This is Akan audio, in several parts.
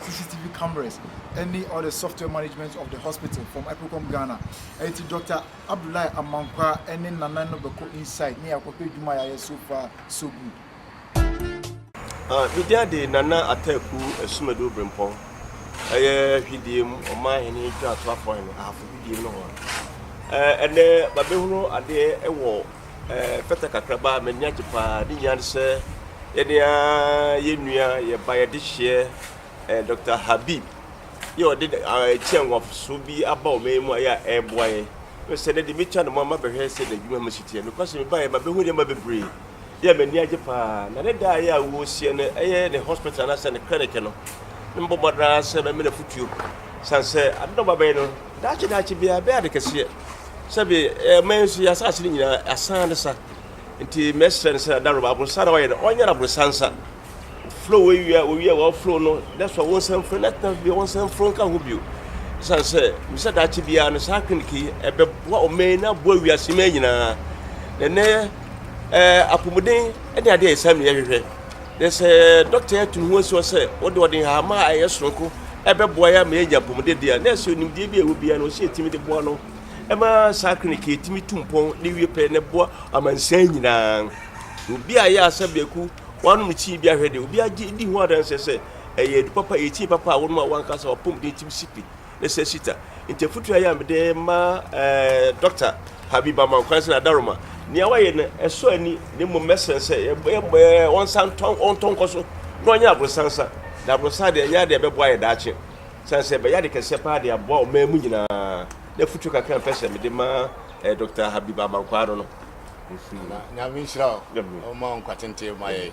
CCTV cameras ne all the software management of the hospital from Apricom Ghana. Ɛnti Dr. Abdullahi Amankwa ne Nana no bɛkɔ inside ne yɛakɔhwɛ adwuma yɛayɛ so far so good. Ah, me dia de Nana Ataku Asumadu Obrempɔn ɛyɛ hwidie mu ɔman hene ntwa ato afɔn no ahafo hwidie no ho a ɛnɛ babɛhunu adeɛ wɔ Ɛfata kakraba a m'ani agye paa, ne nyinaa ne sɛ yɛne yɛn nua yɛ ba yɛ dehyeɛ Dɔkta Habib yɛ ɔde ɛkyɛ nwafoso bi aba wɔn yɛn mu a yɛ a ɛreboa yɛn. Ɛfiri sɛ ɛnɛ deɛ metwa ne mu ama bɛhwɛ sɛ n'adwuma mu si teɛ. Nokwa sɛ mebaeɛ ma bɛhu nneɛma bebree yɛ a m'ani agye paa. Na ne da a yɛ a wɔresie no ɛyɛ ne hospital anaasɛ ne clinic no, na mebɔ mmɔden ara sɛ mɛma no afotuo. Sane sɛ ade na ɔba bɛyɛ no Daakye daakye biara ɛbɛyɛ ade kɛseɛ sɛ bi eh, ma nsu yɛ asase no nyinaa asan ne sa nti mɛsrɛ no sɛ daroma aborosa na ɔyɛ no ɔnyɛ no aborosa nsa flow wɔwia wɔwia wɔn flow no that's why wɔn nsɛm foro nɛtena bi wɔn nsɛm foro nka ho bio ɛsan sɛ mesɛ daakye biara no saa clinic yi ɛbɛboa ɔman na aboa wiase mɛ nyinaa na ɛnɛ ɛɛ apɔmuden ɛne adeɛ ɛsɛ no yɛhwehwɛ Na sɛ dɔkta yi atu ne ho asi hɔ sɛ ɔde ɔde nhama a ɛyɛ soronko bɛboa yɛn ama yɛanya apɔmuden de a, na ɛsɛ onimdeɛ bi a ɛwɔ biara no ɔsɛ yɛtumi de boa no ma saa klinik yi tumi tu mpɔn na ewie pɛ na ɛboa amansan nyinaa. Obi a ɛyɛ asa biaku wanom tii bi ahwɛ de, obi agye di ho adanseɛ sɛ ɛyɛ adupapa, ɛyɛ tii papa a wonom a w'ankasa w'apɔmuden tumi si pi. ne sɛ sita. Nti afutu ayɛ a mede ma eh, Dɔkta Habib Amankwan sɛ n'adaroma. Nea wayɛ no ɛsɔ ani na mmom mɛsrɛ sɛ wɔnsa ntɔ wɔntɔ nkɔ so na wɔnyɛ aborosansa. Na aborosan deɛ ɛnyɛ adeɛ a ɛbɛboa yɛ daakye. Sane sɛ ɛbɛyɛ ade kɛseɛ paa de aboa ɔman mu nyinaa. Na afutuo kakra a mpɛ sɛ mede ma eh, Dɔkta Habib Amankwan no no. Nyame nhyira wo, ɔma wo nkwa tenten ma yɛn.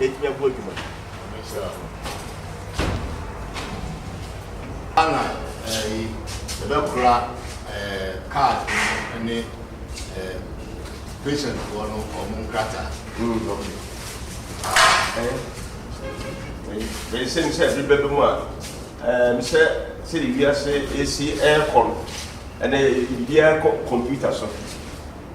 atumi abu adwuma yi. Ana ɛyi ɛbɛkora card ne patient foɔ no wɔn nkrataa. Ɛsɛ mi sɛ ebi bɛbɛ mu a mi sɛ sɛ wiase esi ɛkɔ no ɛnɛ biara kɔ computer so.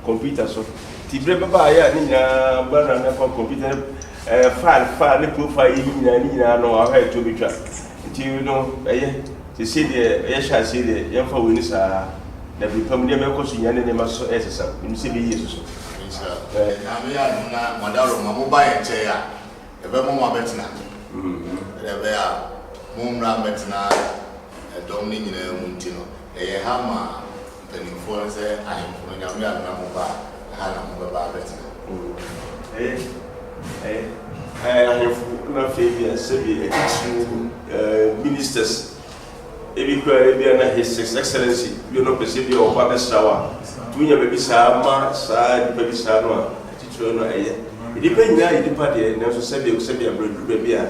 kɔmputa so. Nti berɛ bɛba a ɛyɛ a ne nyinaa bɛ run akɔ kɔmputa no ɛɛ file file ne profile yɛ yi nyinaa ne nyinaa no ahwɛ ɛtoɔ bɛtwa. Nti no ɛyɛ sesei deɛ yɛhyɛ aseɛ deɛ yɛmfa wei no saa dabi pam nneɛma ɛkɔ so nyinaa ne nneɛma nso so ɛresesa menim sɛ ɛbɛyie nso so. Nhyira eh. Nyame yɛ adom na mo adaworo ma mo ba yɛn nkyɛn a yɛbɛma mo abɛtena sɛdeɛ ɛbɛyɛ a mo mmra mmɛtena ɛdɔm no nyinaa mu nti no yɛyɛ ha ma Mpanimfoɔ no sɛ ahemfo no Nyame a mena mo ba a, ɛha na mobɛba abɛtena. Ɛɛ, ɛɛ, ɛɛ, ahemfo na afei bia sɛbi atitiriw, ɛɛ, ministers, ebi koraa ebia na His Excellency bi no pɛ sɛ bi a ɔba bɛsra wo a, tumi nya baabi saa ma saa nnipa bi saa no a, atitiriw no ɛyɛ. Nnipa nyinaa yɛ nnipa deɛ, nanso sɛbi, sɛbi a berɛ duru baabi a,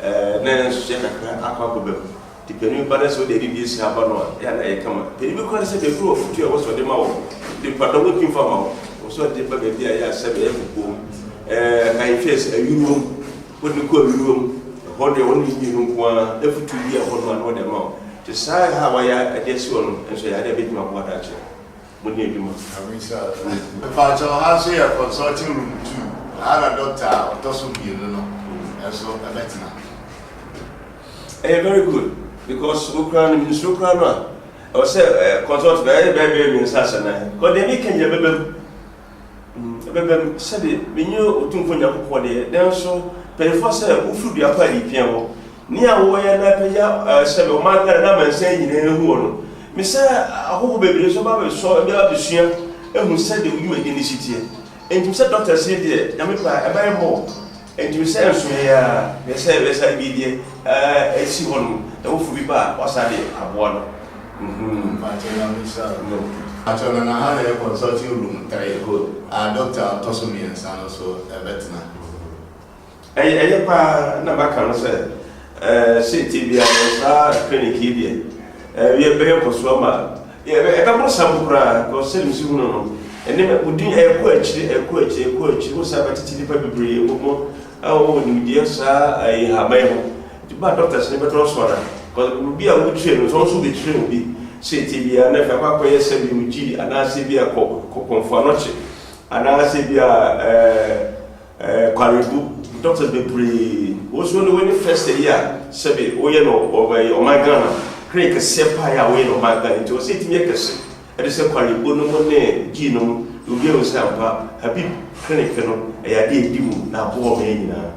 ɛɛ, na yɛn nso yɛkakra akɔ akɔba mu. De panin ba na sɛ wode adidi asia ba no a, ɛyɛ a na ɛyɛ kama. Panin bi koraa te sɛ baabi wɔ afutu a ɛwɔ sɛ ɔde ma wo de pa dɔm ntumi mfa mma wo. Ɛwɔ sɛ ɔde ba baabi a ɛyɛ a sɛbe ɛyɛ kokoa mu. Ɛɛ, kae nhwɛ sɛ ayuruwa mu. Wode no kɔ ayuruwa mu. Ɛhɔ deɛ, wɔne ne mmienu nko ara. Afutu bi a ɛwɔ hɔ no a na wɔde ama wo. Te saa a ɛha a wɔayɛ de asi hɔ no nso, ɛyɛ adeɛ a ɛbɛtumi aboa daakye. Mo ni adwuma. I wish I was like you. Mpakyɛw ha nso yɛ consulting room two ha na doctor a ɔtɔ so mmienu no nso bɛtena. Ɛyɛ very good because wo koraa no mensuro koraa no a ɛwɔ sɛ consult na ɛyɛ bɛɛ bɛyɛ mmiɛnsa asɛ nan kɔ deɛ meka nyina bɛbam. Ebɛbɛm, sɛdeɛ menye Otumfoɔ Nyankopɔn de, nanso mpanyimfoɔ sɛ wofiri dua pa a yɛpia hɔ. Nea wɔyɛ na apagya sɛbe ɔman Ghana na amansan nyinaa ahu wɔ no. Mesɛ ahɔho bebree nso ba bɛsɔ bɛ ba bɛsua ahu sɛdeɛ wo dwumadie no si teɛ. Enti mesɛ Doctor se deɛ Nyame pɛ a ɛbɛyɛ mmɔ Ɛtumi sɛ nso yɛ a, hwɛ sɛ bɛsa bi deɛ ɛɛ si hɔ nom na wofo bi ba a wasa de aboa no. Nhuu. Mpakyɛ na misa o. No. Mpakyɛ na na ha na yɛ consulting room three hɔ a doctor a ɔtɔ so mmiɛnsa no so ɛbɛtena. Ɛyɛ ɛyɛ paa na maka no sɛ ɛɛ seetie biara no saa clinic yi deɛ ɛɛ yɛ bɛyɛ nkɔsoɔ ma. Ɛbɛ, ɛbɛboro saa mu koraa, because sɛdeɛ mesi hu no no, ɛnneɛma abodin ɛrekɔ akyire, ɛrekɔ akyire, ɛrekɔ akyire. Wohu sɛ abɛtete nnipa bebree wɔ mu a wɔwɔ nimdeɛ saa ɛyi nhaban yi ho. Nti ba a doctors no bɛtɔ so ana? Because obi a wokyerɛ no, sɛ ɔno nso bɛkyerɛ obi seetie biara na afei akɔ akɔyɛ sɛ bi ogyi anaasɛ bi a kɔ kɔ kɔmfoanɔkye anaasɛ bi a ɛɛ. Eh Kwarebu, doctors bebree, wo nso wode w'ani fɛ sɛ yi a, sɛbe woyɛ no ɔbɛyi ɔman Ghana, clinic kɛseɛ paa yi a woyɛ no ɔman Ghana, nti ɔsɛ ɛtumi yɛ kɛse, ɛde sɛ Kwarebu nom ne Gee nom, na obi ahu sɛ ampa, Habib clinic no, ɛyɛ adeɛ a ɛdi mu, na aboa wɔn yɛ nyinaa.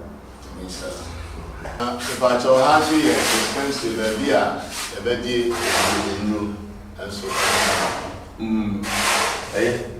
Amen sir. Na mepakyɛw ha nso yɛ dispensary baabi a yɛbɛgye agyede nnuro nso. Mm, ɛyɛ.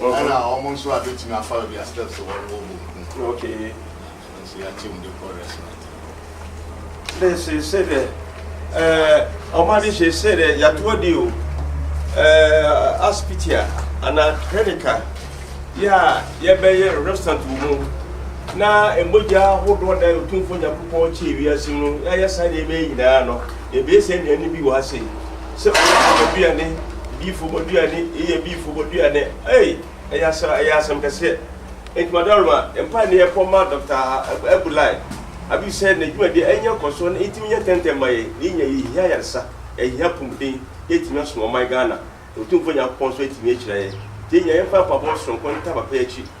Ɛna wɔn nso a betumi afa baabi a steps wɔ no wɔ Bonkun. Okay. Ɛno nso yɛate mu de kɔ restaurant no. Dɛ sese dɛ ɛɛ wɔn ade sese dɛ yɛato adi o ɛɛ asopiti a anaa clinic a yɛ a yɛbɛyɛ restaurant wɔ mu na mmogya ahodoɔ da otumfoɔ nyankopɔn kyee wiase no yɛayɛ saa nneɛma yi nyinaa no ɛbɛyɛ sɛ nnuane bi wɔ ha sei sɛ ɔyɛ abɔduane diifo bɔduane yɛ biifo bɔduane ei ɛyɛ asɛm ɛyɛ asɛm kɛseɛ nti madam ma mpa ne yɛ kɔ ma dɔkta abulai abi sɛ n'adwumadeɛ ɛnyɛ nkɔsoɔ na ɛtumi nyɛ tɛntɛn ma yɛ ne nya yɛhia yaresa ɛhia pomuden yɛtumi asom ɔman ghana ɔtumfoɔ nyankopɔn nso atumi akyira yɛ nti yɛnya yɛmfa mpabɔ soronko nta papa akyi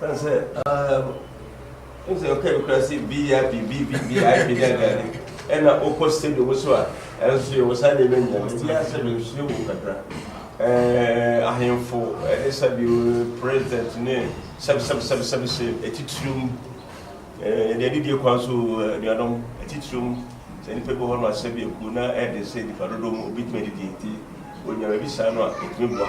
Ɔka sɛ, Ah, wohu sɛ ɔka bi koraa sɛ VIP, BVP, VIP ne adeade. Ɛna wokɔ stadium so a, ɛnso yɛwɔ saa nneɛma nyinaa. Mebisa ara sɛ mensua mu kakra. Eh, ahemfo ne sɛbio president ne sɛbsɛbsɛbsɛb hyɛ atitirim. Eh, yɛde adidie kwan so o, anuanom, atitirim. Sɛ nnipa bi wɔ hɔ no a, sɛbio kuo no ara ɛden sɛ nnipa dodoɔ mu obi tumi adidie nti, ɔnya baabi saa no a, ɛtumi boa.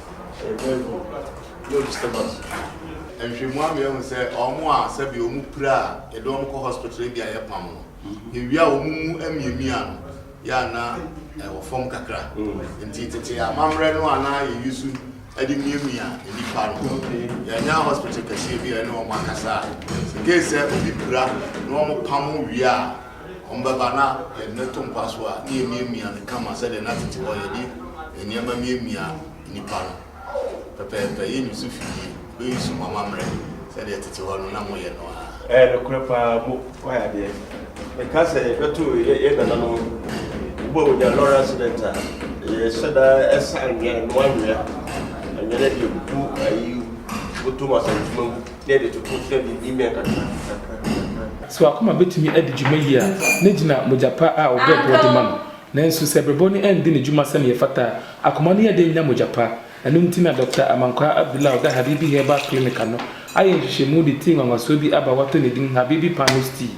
Nhwehwɛmu ama yɛahu sɛ wɔn a sɛbe wɔpira a yɛde wɔn kɔ hospital ebi a yɛpam no, ewia a wɔn mu amiamia no yɛ a na ɛwɔ fam kakra. Nti tete amammerɛ no a na yɛyi so de miamia nnipa no, yɛanya hospital kɛseɛ bi a yɛne wɔn akasa a, in case sɛ obi pira na wɔpam wie a, Wɔbɛba na yɛde no ato mpa so a, na yɛmiamia no kama sɛdeɛ na tete hɔ yɛde nneɛma miamia nnipa no pɛpɛɛpɛ. Yɛnyi so fi yie, bɛyi so mu amammerɛ sɛdeɛ tete hɔ no na moyɛ no ara. Ɛyɛ nokorɛ pa ara, mo wayɛ adeɛ. Meka sɛ yɛbɛto yɛn nananom bo a wɔnya lorry accident a, yɛhyɛ da sa anwea, noa anwea, anwea no de gu ayi mu, bɔtɔ mu, asantuma mu. na yɛde toto na yɛde yiyi mmɛn kakra kakra kakra. So w'akoma betumi adi dwuma yiye a na gyina mogya pa a ɔbrɛboɔ de ma no? Nanso sɛ brɛboɔ no anndi ne dwuma sɛnea ɛfata a, akoma no yɛ den nya mogya pa. Ɛno nti na Dɔkta Amankwaa Abdullah a ɔda Habibi Herbal Clinic ano ayɛ nhwehwɛmu de tii nwanwasoɔ bi aba a wɔato ne din Habibi Panos Tea.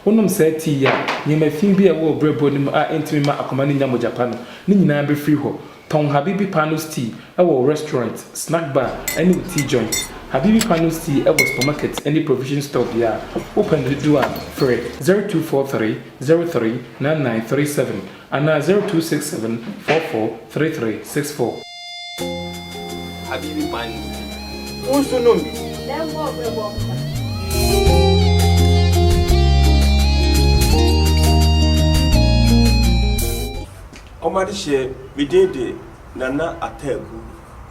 Wonom saa tea yi a, nneɛma fi bi a ɛwɔ wo brɛboɔ no mu a ɛntumi mma akoma no nnya mogya pa no, ne nyinaa befiri hɔ. Tɔn Habibi Panos Tea wɔ wo restaurant, snack bar ne wo tea joint. Habibi Panos Tea wɔ supermarket ne provision store biara. Wopɛ no dodoɔ a, frɛ 0243 03 9937 anaa 0267 44 3364. Habibi Panos Tea, wo nso nom bi! Lembor Brebor Mpa. Wɔde hyɛɛ me din de Nana Ataku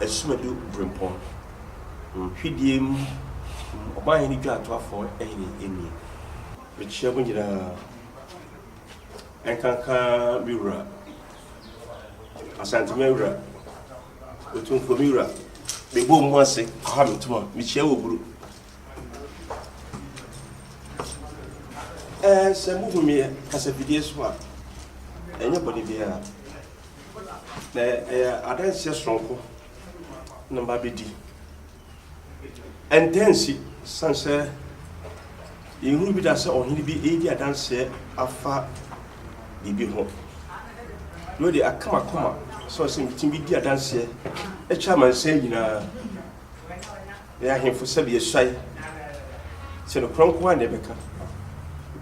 Asumadu Brempong Hwedeɛ mu Ɔmanhene Dwatoafoɔ Hene Emie. Mekyea mo nyinaa, ɛnkanka me wura, Asantehene wura, Otumfoɔ me wura, mebɔ mo ase, Kwame Tumah, mekyea wɔ buru, Sɛ muhu me kasafidie so a, ɛnyɛ bɔne biara, na ɛyɛ adanseɛ soronko na mabɛdi. Ɛntaa nsi, sane sɛ yɛhunu bi da sɛ ɔhene bi redi adanseɛ afa biribi ho, na ɔde aka m'akoma sɛ ɔsɛ metumi bɛdi adanseɛ kyerɛ amansan nyinaa. Ɛyɛ ahemfo sɛdeɛ asuae sɛ nokorɛ nko ara na ɛbɛka.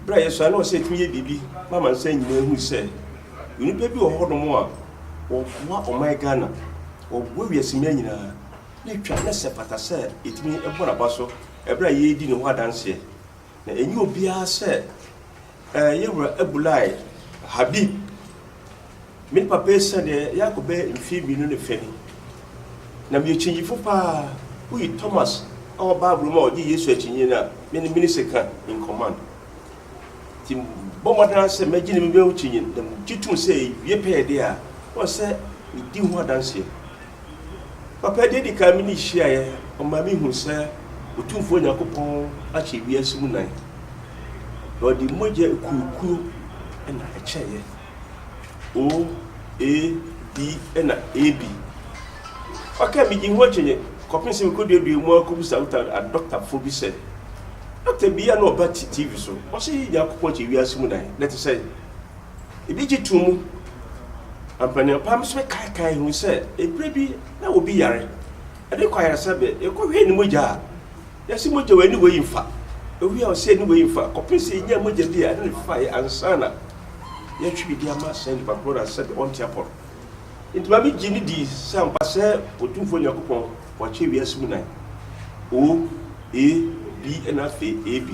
Berɛ a yɛsuae no wɔ sɛ yɛtumi yɛ biribi ma amansan nyinaa hunu sɛ nnipa bi wɔ hɔnom a wɔboa ɔman Ghana, wɔboa wiase mmaa nyinaa na ɛtwa na sɛ ɛfata sɛ yɛtumi bɔ n'aba so berɛ a yɛredi ne ho adanseɛ. Na ɛnyɛ obiara sɛ ɛɛ yɛn wura Abulai Habib, me ne papa yi sɛdeɛ yɛakɔ bɛyɛ mfeɛ mmienu ne fɛ ni. Na meyɛ kyinyifo pa ara, woyi Thomas a ɔwɔ Bible mu a ɔgye Yesu akyinnye no a, me ne me ne sɛ ka in command. Nti mebɔ mmɔden ara sɛ mɛgye ne mebɛyɛ wo kyinyin, na megye tom sɛ ɛwie pɛyɛdeɛ a, woahu sɛ medi ho adanseɛ. Papa, deɛ edi kan me ne hyiaeɛ, ɔma me hu sɛ Otumfoɔ Nyankopɔn akyɛ wiase mu nan, na ɔde mogya akuokuo na ɛkyɛeɛ, OAD na AB. Ɔkaa me gyee ho akyinnye kɔpem sɛ mekoduaduaa mu ara kɔbisa Utah adɔktafoɔ bi sɛ, Dɔkta bi a na ɔba TV so, ɔse Nyankopɔn kyɛ wiase mu nan, na ɛte sɛn? Ebi gye tom mu. Ampaneɔpam nso bɛkaekae ho sɛ ɛberɛ bi na obi yare, ɛde kɔ ayaresabea, yɛkɔhwɛɛ ne mogya a, na ɛse mogya wei ne wei mfa, ɛhwɛ a ɔse ɛne wei mfa, kɔpem sɛ yɛnya mogya bi a ɛne no fa yɛ ansa na yɛatwe de ama saa nipa korɔ no ansa deɛ ɔnte apɔ no. Enti ma me gye ne dii sɛ ampa sɛ Otumfoɔ Nyankopɔn wakyɛ wiase mu nan. O, A, B, ɛna afei A, B.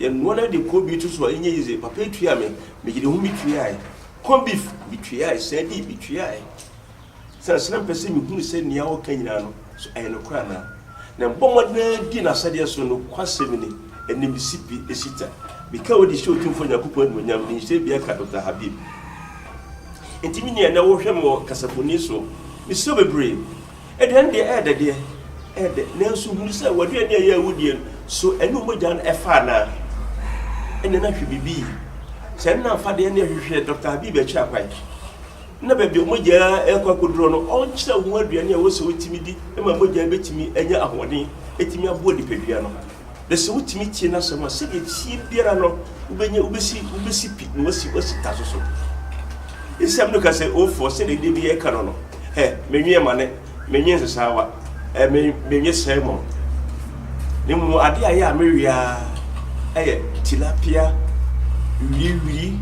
Yɛnoa no de corn beef to so a, ɛnyɛ easy. Papa yi tuaa me, megyina ho metuaae. Corn beef, metuaae. Sɛɛdi, metuaae. Siane sɛ na mepɛ sɛ mehunu sɛ nea ɔreka nyinaa no, so ɛyɛ nokorɛ anaa. Na mebɔ mmɔden ara di n'asɛdeɛ so. Nokwasɛm ni, ɛnnɛ mesi pi, esi ta. Meka wei de hyɛ Otumfoɔ Nyankopɔn animuonyam, menhyɛ biara ka Doctor Habib. Enti me nua, ɛnnɛ worehwɛ me wɔ kasafoni so. Mesrɛ wo bebree. Aduane deɛ ɛyɛ dɛ deɛ, ɛyɛ dɛ, nanso hunu sɛ w'aduane a ɛyɛ awudie no, so ɛne wo mogya no ɛfa anaa? Ɛnneɛ na hwɛ biribi yie. Sɛ ɛno na amfa deɛ, ɛnneɛ hwehwɛ Doctor Habib Akyirappan na baabi a mogya rekɔ akɔduro no, ɔnkyerɛ wo aduane a ɛwɔ sɛ wotumi di ma mogya bɛtumi anya ahoɔden, ɛtumi aboa nipadua no. Na sɛ wotumi tie n'asɛm a, sɛdeɛ ɛteɛ biara no, wobɛnya, wobɛsi, wobɛsi pi na wasi, wasi ta so so. Nsɛm no ka sɛ, O foɔ, sɛdeɛ Dawid yɛ ka no no, hɛ, menwe amane, menwe nsesaawa, ɛ, me, menwe salmon. Na mmom adeɛ a ɛyɛ a mewe ara ɛyɛ tilapia, wiriwiri,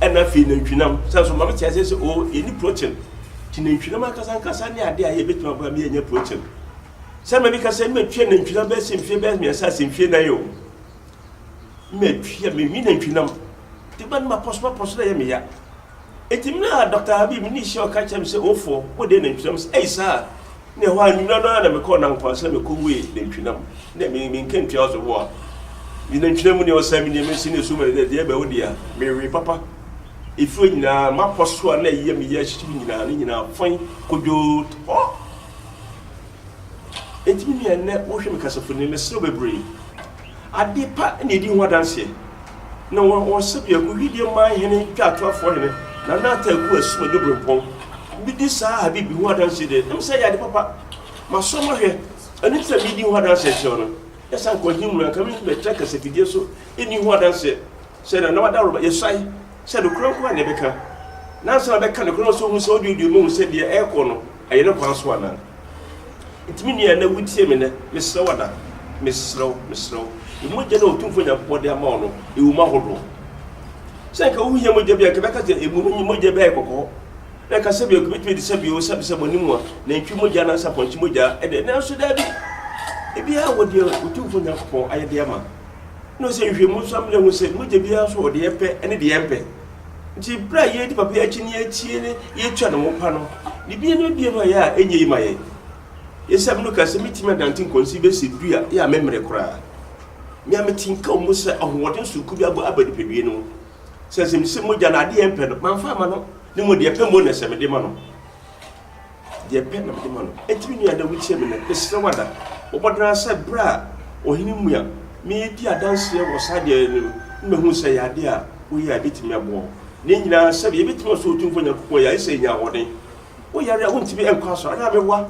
ɛna afei nantwinam. Sɛ nso ma mete aseɛ sɛ, o, yɛni protein. Nti nantwinam ankasa ankasa ne adeɛ a ɛyɛ bɛtumi aboa me yɛanya protein. Sɛ mɛde ka sɛ mɛ tua nantwi nam bɛɛ sɛ mfie bɛɛ mmiɛnsa sɛ mfie nan yɛ o. Mɛ tua mɛ nwi nantwi nam. Te ba ne ma pɔs ma pɔs na yɛ me ya. Eti mɛ a Dr. Habib ne hyia ɔka kyerɛ me sɛ ofo wo de nantwi nam sɛ ɛyi saa. Ne ɛhɔ a nwumina no a na mɛ kɔ na nkwa sɛ mɛ kɔ wue nantwi nam. Ne mɛ mɛ nka ntua ɔso boa. Mɛ nantwi nam ne ɔsɛ me ne mɛ si ne so mɛ deɛ bɛ wo deɛ mɛ we papa. Efiri nyinaa ma pɔs so a na ɛyɛ me ya hyehye nyinaa ne nyinaa fɔn kodwo tɔ. Enti me nua nnɛ wohwɛ me kasafoni no meserew bebree. Ade pa na edi ho adanseɛ. Na wɔn wɔn sɛbea gu Hwideɛ man hene Twatoafoɔ hene Nana Atta Aku Asuma Dwobrempɔn bi di saa Habib ho adanseɛ deɛ ɛm sɛ ɛyɛ ade papa. Masɔ mahwɛ ɛno nti na meredi ho adanseɛ kyerɛ wo no. Yɛ sɛ anka ɔhene mu no anka merentumi ɛtra kasafidie so ɛnni ho adanseɛ. Hyɛ no n'adaworoba, yɛsuae sɛ nokorɛ nko ara na yɛbɛka, na ansa na bɛka nokorɛ no nso hu sɛ wode odie mu hu sɛ deɛ ɛrekɔ no ɛyɛ ne kwan so anaa. Nti me nua ɛnɛ wotie me nnɛ, mesrɛ wo ada, mesrɛ wo, mesrɛ wo, yi mogya no a Otumfoɔ Nyankopɔn de ama wo no gu mu ahodoɔ. Sɛ anka wohia mogya bi a, anka ɛbɛka sɛ emu no nye mogya bi a ɛyɛ kɔkɔɔ, na anka sɛbi anka ɛbɛtumi adi sɛbi oo, sɛbi sɛbi ɔne mu a nantwi mogya anaasɛ apɔnkye mogya ɛdɛ, nanso daabi, ebiara wɔ deɛ Otumfoɔ Nyankopɔn ayɛ de ama. na ɔsɛ nhwehwɛmu nso ama yɛahu sɛ mogya biara so wɔ deɛ ɛpɛ ne deɛ ɛmpɛ nti berɛ a yɛdi papa akyi ne yɛtie ne yɛtua ne ho pa no ne bia ne bia no a yɛ a ɛnyɛ yi ma yɛ yɛsɛ mno ka sɛ metumi adante nkɔnsi bɛsi du a yɛ a memmere koraa me a metinka mu sɛ ahoɔden soku bi abɔ aba nipadue no sɛ sɛ mesɛ mogya no adeɛ ɛmpɛ no mamfa ama no ne mu deɛ ɛpɛ mo na sɛ mede ma no Deɛ pɛ na mede ma no. Enti me nua, dɛ wokyia me nnɛ, mesrɛ wo ada. Mobɔ dena sɛ berɛ a Ɔhene Mmua meredi adanseɛ wɔ saa deɛ no mu no mɛhunu sɛ ɛyɛ adeɛ a woyɛ a ɛbɛtumi aboa wo. Ne nyinaa sɛdeɛ yɛbɛtumi Ɔsoro Otumfoɔ Nyankopɔn yɛ ayɛ sɛ ɛnya ahoɔden. Woyare a wontumi nkɔ asɔre anaa mewa?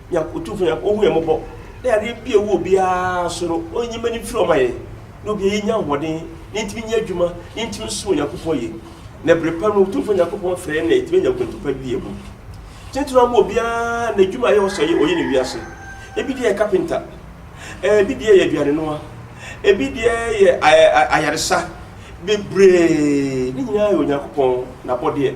Nyak Otumfoɔ Nyak Ɔhu yɛn mmɔbɔ na yareɛ bi a ɛwɔ obiara so no Ɔnyi mani mfiri hɔ ma yɛn na obiara yi nya ahoɔden na yɛntumi nyɛ adwuma na yɛntumi nsom Onyankopɔn yie na bere pa no Otumfoɔ Nyankopɔn frɛ yɛn na yɛtumi anya akwantu pa bi abu tentene ama obiara na adwuma a ɛyɛ ɔsɛ ɔyɛ ɔyɛ ne wiase ebi deɛ yɛ kapenta ebi deɛ yɛ aduane noa ebi deɛ yɛ ayaresa bebree ne nyinaa yɛ Onyankopɔn n'abɔdeɛ.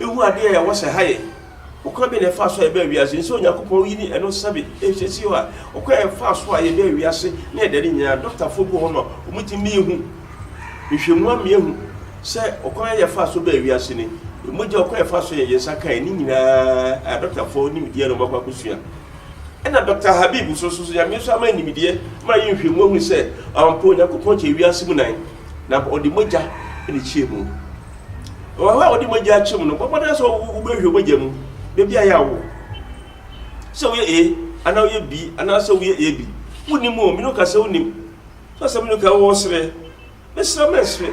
Ehu ade a ɛwɔ sɛ ɛha yɛn. Ɔkwan bɛn na ɛfaa so a yɛbaa wiase? Ɛnsɛ sɛ Onyankopɔn yi ne ɛno sɛbe. Ɛhyɛ si hɔ a, ɔkwan a yɛfaa so a yɛbaa wiase ne ɛda no nyinaa, dɔktafo bi wɔ hɔ ma wɔtumi ma yehu nhwehwɛmu ama yɛahu sɛ ɔkwan a yɛfaa so baa wiase ni, mogya ɔkwan a yɛfaa so yɛn yɛn nsa kae, ne nyinaa a dɔktafo nimdeɛ na wɔakɔ akosua. Ɛna Dɔkta Habib nso, nso Nyame nso ama no nimdeɛ ma yɛyɛ nhwehwɛmu ahu sɛ ampa Onyankopɔn kyɛ wiase mu nan. na ɔde mogya na ɛkyia mu. Wɔn a wɔde mogya kyia mu no, bɔbɔ no sɛ wobɛhwɛ mogya mu, baabi a yɛ awo. Sɛ woyɛ A, anaa woyɛ B, anaa sɛ woyɛ AB. Wonim o, mene ka sɛ wonim. Sɛ sɛ mene ka wɔ serɛ, mesrɛ mɛsrɛ.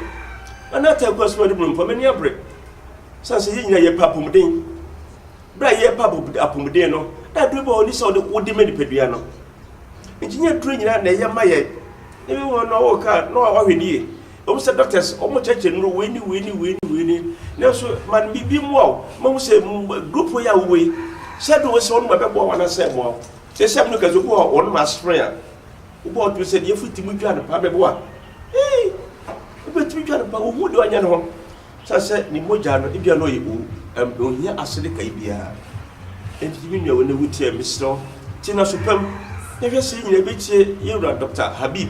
Ana ata akɔ asoma de mu mpa, m'ani abere. Sɛ sɛ yɛ nyina yɛ pa apomuden. Berɛ a yɛ pa apomuden no, na aduru bɔ hɔ ni sɛ wode ma nipadua no. Engineer duro nyinaa na ɛyɛ ma yɛn. Even wɔn na ɔwɔ car na ɔhwɛ ne yie. Ɛwom sɛ doctors wɔn kyerɛkyerɛ nnuro wei ne wei ne wei ne wei ne nanso ma no biribi mmoa wo ma hu sɛ group wei a wowɔ yi sɛ de wɔn sɛ wɔn ma bɛboa wɔn anasɛ ɛmmoa wo. Sɛ sɛ ɛmu kɛse obi wɔ hɔ wɔn ma aspirin a wobɔ wɔn tumi sɛ deɛ efiri ti mu dwa no paa bɛboa. Ee wobɛtumi dwa no paa wohu deɛ ɔnyɛ no ho. Sɛ sɛ ne mogya no, ebia na ɔyɛ owu, ɛm, onhia asede kae biara. Enti me nua, wo nnɛ wutie a, mesrɛ wo, tie no aso pa mu, na hwɛ sɛ yɛn nyinaa betie yɛn wura Dɔkta Habib.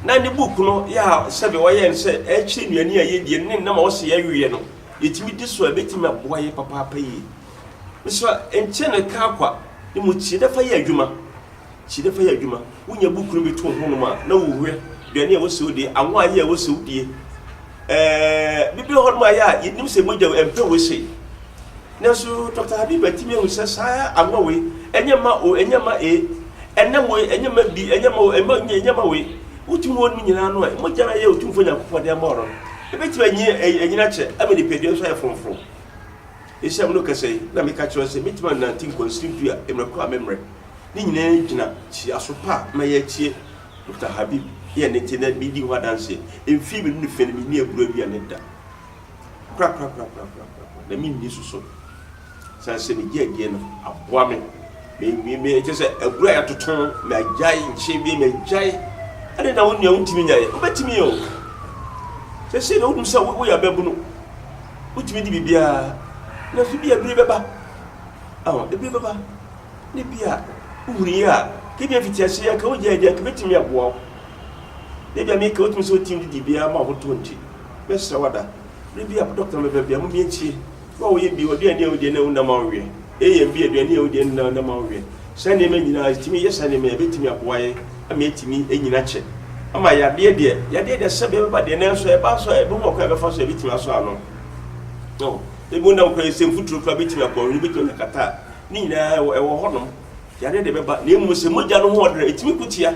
Na ne book no yɛ a sɛbe ɔyɛɛ no sɛ ɛrekyerɛ nnuane a yɛdie no ne nnam a ɔse yɛnweɛ no, yɛtumi di so a, ɛbɛtumi aboa yɛn papaapa yie. Mesrɛ, nkyɛ ne ka kwa, na mmom tie na fa yɛ adwuma. Si dɛ fa yɛ adwuma. Wo nya buukuu no bi to wo ho nom a na wo hwɛ duane a wo sɛ wo die, awa ayɛ a wo sɛ wo die. Ɛɛɛ, bi bɛ hɔ nom a yɛ a yɛ nim sɛ mogya ɛmpɛ wei sei. Nanso Dɔkta Habiba tumi ahu sɛ saa awa wei ɛnyɛ mma o, ɛnyɛ mma e, ɛnam wei ɛnyɛ mma bi, ɛnyɛ mma o, ɛmma nyɛ, ɛnyɛ mma wei. Wo tumi wɔ nom nyinaa no a, mogya no a yɛ Otumfoɔ Nyankopɔn de ama wo no, ɛbɛtumi anyi ɛɛ ɛnyini akyɛ ama nipadua nso ayɛ frɔmfrɔm. Nhyiam no kɛse yi na meka kyerɛ sɛ metumi anante nkwansiri du a mmerɛ koro a memmrɛ. Ne nyinaa gyina kyiaso pa a mɛyɛ atie Dokita Habib yɛ ne te na medi ho adanseɛ. Mfie mmienu ne fɛ no menni aburo aduane da korakorakorakorakorakorakoraa na menni nso so sane sɛ megye adie no aboa me. Me me me kyerɛ sɛ abura yɛatoto magyae nkyɛn bi magyae ɛne na wo nua wontumi nyae wobɛtumi yɛ o sɛ sei na wonim sɛ woyɛ ababunu wotumi de biribiara na so bi abiri bɛba aho ebiri bɛba ne bi a wohunu yi a kebi afiti ase yɛ nka wogyae deɛ nka bɛtumi aboa wo ne bi a meka wotumi sɛ wotumi de biribiara ma ahotoɔ nti mɛsrɛ wada bere bi a dɔkta mɛbɛbia mo miɛntie Wo a woyɛ bi, ɔduane a wodie na ɛho nna ma wo weɛ. AM bi, aduane a wodie no na ɛnna ma wo weɛ. Saa nneɛma nyinaa, ɛtumi yɛ saa nneɛma yi a, ɛbɛtumi aboa yɛn ama yɛatumi anyini akyɛ. Ama yadeɛ deɛ, yadeɛ deɛ sɛbe ɛbɛba deɛ, nanso ɛba nso a, ɛbɛhu ɔkwan a ɛbɛfa so a ɛbɛtumi asɔ ano. No, ebi ho nna wo koraa, nsɛmfuturo koraa bɛtumi aboa wo, wobɛtumi anya kata a, ne nyinaa ɛwɔ hɔnom. Yadeɛ deɛ ɛbɛba, na mmom sɛ mogya no ho ɔdena, ɛtumi ko tia.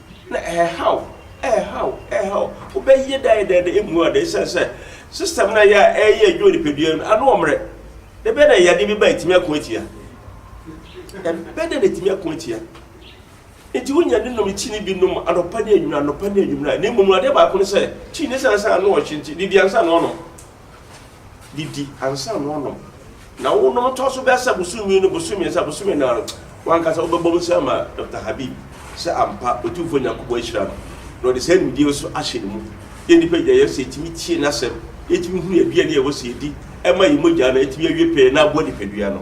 Na ɛhaw, ɛhaw, ɛhaw. Wobɛyɛ dɛn dɛn na emu ada esiane sɛ system no a ɛyɛ a ɛyɛ adwuma nipadua no ano ɔmmerɛ? Na ɛbɛyɛ dɛn yadeɛ bi ba ɛtumi ako atia? Ɛbɛyɛ dɛn na ɛtumi ako atia? Nti wonya ne nom kyini bi nom anɔpa ne anwummerɛ, anɔpa ne anwummerɛ a, na mmom no adeɛ baako ne sɛ, kyini ne sɛ ansa na ɔhye nti, didi ansa na ɔnom. didi ansa na wɔanom. Na wonom tɔ so bɛsa bosome no bosome mmiɛnsa bosome nan no, w'ankasa wobɛbɔ mu sɛ ama Dɔkta Habib sɛ ampa Otumfoɔ Nyankopɔn ahyira no, na ɔde saa nimdeɛ yi nso ahyɛ ne mu. Yɛn nnipa nyinaa, yɛn sɛ yɛtumi tie n'asɛm, yɛtumi hunu aduane a ɛwɔ sɛ yɛdi, ɛma yɛn mogya no atumi awie pɛɛ na aboa nipadua no.